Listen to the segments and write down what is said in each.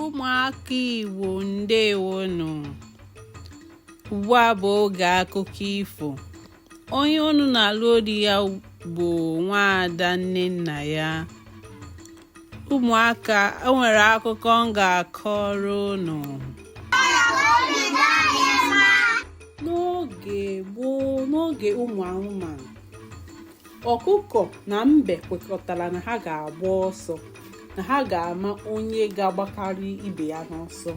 ụmụaka Igbo ndewonu ugbu a bụ oge akụkọ ifo onye unu na-anụ olu ya bụ nwaada nnennaya ụmụaka o nwere akụkọ m ga-akọrọ unu n'oge gboo n'oge ụmụ anụmanụ ọkụkọ na mbe kwekọtara na ha ga-agba ọsọ na ha ga-ama onye ga-agbakarị ibe ya n'ọsọ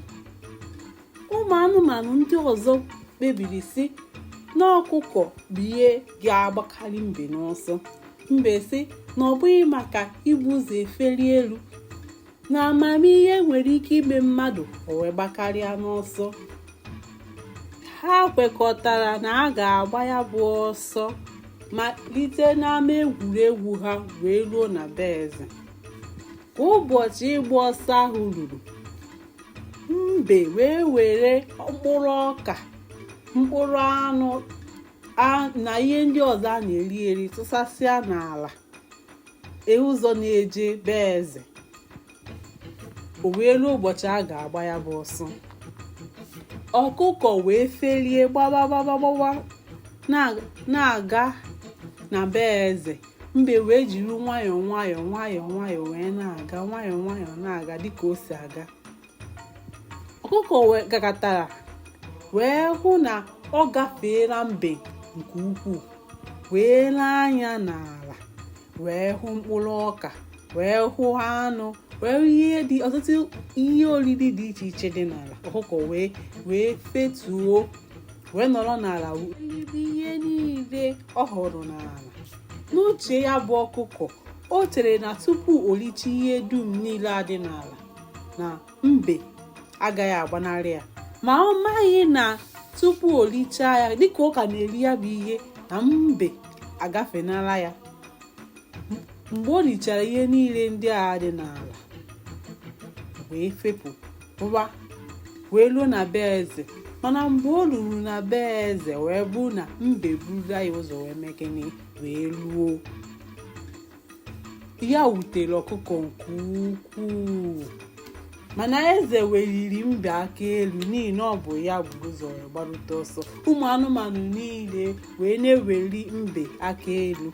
ụmụ anụmanụ ndị ọzọ kpebiri sị na ọkụkọ bụ ihe ga-agbakarị mbe n'ọsọ mbe sị na ọ bụghị maka ibu ụzọ efeli elu na amamihe nwere ike ime mmadụ o wee gbakarịa n'ọsọ ha kwekọtara na a ga-agba ya bụ ọsọ malite n'ama egwuregwu ha wee ruo na be eze ka ụbọchị ịgba ọsọ ahụ ruru mbe wee were mkpụrụ ọka mkpụrụ anụ na ihe ndị ọzọ a na-eri eri tụsasịa n'ala ee ụzọ na-eje be eze o wee ruo ụbọchị a ga-agba ya bụ ọsọ ọkụkọ wee felie gbaba gbaba gbaba na-aga na be eze mbe wee jiri nwayọọ nwayọọ nwayọọ nwayọọ wee na-aga nwayọọ nwayọọ na-aga dịka o si aga ọkụkọ wee gagatara wee hụ na ọ gafeela mbe nke ukwuu wee lee anya n'ala wee hụ mkpụrụ ọka wee hụ anụ wee hụ ihe dị ọtụtụ ihe oriri dị iche iche dị n'ala ọkụkọ wee wee fetuo wee nọrọ n'ala rie ihe niile ọ hụrụ n'ala n'uche ya bụ ọkụkọ o chere na tupu o richaa ihe dum niile a dị n'ala na mbe agaghị agbanarị ya ma ọ maghị na tupu o richaa ya dịka ọ ka na-eri ya bụ ihe na mbe agafenala ya mgbe o richara ihe niile ndị a dị n'ala wee fepụwa wee ruo na be eze mana mgbe o ruru na be eze wee bụ na mbe buru ya ụzọ wee mee gịnị wee ruo ya wutere ọkụkọ nke ukwuu mana eze weliri mbe aka elu n'ihi na ọ bụ ya bu ụzọ wee gbarute ọsọ ụmụ anụmanụ niile wee na-eweli mbe aka elu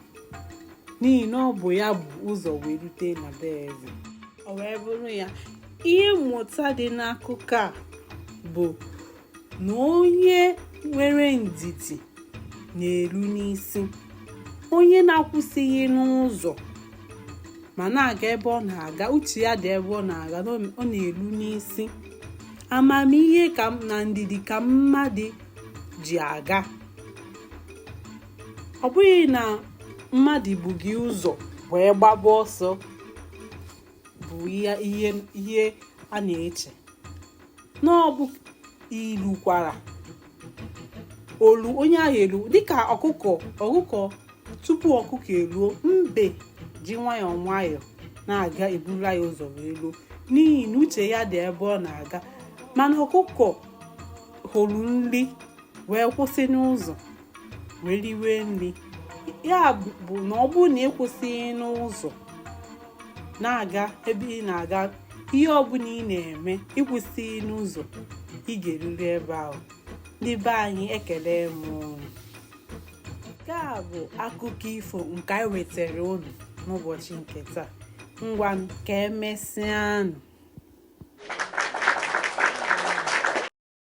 n'ihi na ọ bụ ya bu ụzọ wee rute na be eze o wee bụrụ ya ihe mmụta dị n'akụkọ a bụ na onye nwere ndidi na-eru n'isi onye na-akwụsịghị n'ụzọ ma na-aga ebe ọ na-aga uche ya dị ebe ọ na-aga ọ na-eru n'isi amamihe na ndidi ka mmadụ ji aga ọ bụghị na mmadụ bu gị ụzọ wee gbaba ọsọ bụ ihe a na-eche na ọ bụ ilu kwara olu onye ahụ elu dịka ọkụkọ tupu ọkụkọ eluo mbe ji nwayọọ nwayọọ na-aga eburu ya ụzọ wee luo n'ihi na uche ya dị ebe ọ na-aga mana ọkụkọ hụrụ nri wee kwụsị n'ụzọ wee riwe nri ya bụ na ọ bụrụ na ịkwụsịghị n'ụzọ na-aga ebe ị na-aga ihe ọbụla ị na-eme ịkwụsịghị n'ụzọ ị ga-eruri ebe ahụ ndị be anyị ekele m unu nke a bụ akụkọ ifo nke anyị wetara unu n'ụbọchị nke taa ngwa ka emesịanụ